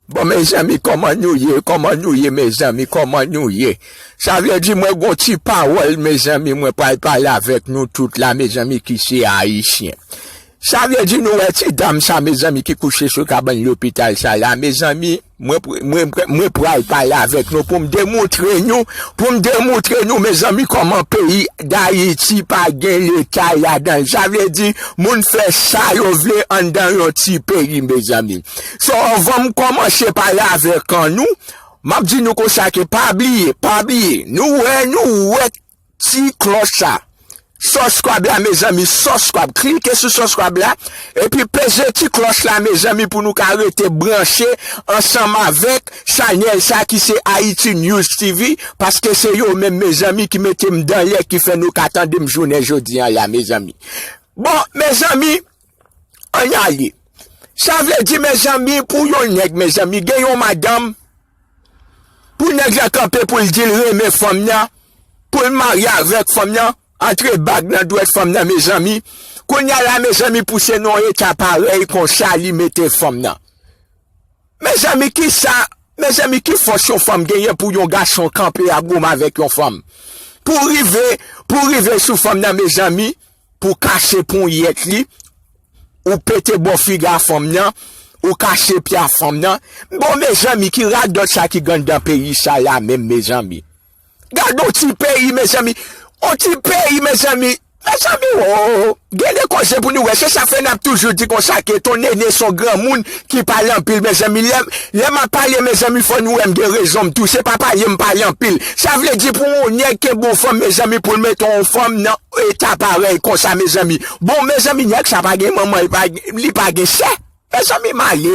Bon mezanmi koman nou ye koman nou ye mezanmi koman nou ye sa vle di mwen gon ti pawol mezanmi mwen pral pale avek nou tout la mezanmi ki se ayisyen sa vle di nou wè ti dam sa mezanmi ki kouche sou kabann lopital sa la mezanmi mwen pral pale avek nou poum demoutre nou poum demoutre nou mezanmi koman peyi dayiti pa gen leta ladanl sa vle di moun fè sa yo vle andan yon ti peyi mezanmi. So anvanm komanche pale avek nou map di nou konsa ke pa bliye pa bliye nou wè nou wè ti kloch sa suscribe la mezanmi suscribe klike sou suscribe la epi peze ti kloch la mezanmi pou nou ka rete branche ansanm avek chanel sa ki se Haiti News TV paske se yo menm mezanmi ki metem danlè ki fè nou ka tandem jounen jodi an la mezanmi bon mezanmi An ale. Sa vle di mezanmi pou yon nèg mezanmi gen yon madanm pou nèg la kanpe pou l di l renmen fanm nan pou l marye avèk fanm nan antre bag nan dwèt fanm nan mezanmi kounya la mezanmi pou se nan yon eta parèy konsa li mete fanm nan mezanmi ki sa mezanmi ki fòs yon fanm genyen pou yon gason kanpe ap goumen avèk yon fanm pou rive pou rive sou fanm nan mezanmi. Pou kache ponyèt li, ou pete bò figa fanm nan, ou kache pya fanm nan. Bon mezanmi ki radòt sa ki gandan peyi sa la menm mezanmi. Gadon ti peyi mezanmi, on ti peyi mezanmi. Mezanmi oo, gen de koze pou nou wè, se sa fè nap toujou di konsa ke ton Nene son granmoun ki pale anpil mezanmi. Lè map pale mezanmi fò nou wèm gen rezon m tou, se pa pale m pale anpil. Sa vle di pou on nèg kenbe on fanm mezanmi poul mete on fanm nan. Eta parèy konsa mezanmi. Bon mezanmi nèg sa pa gen manman li pa gen sè mezanmi m ale.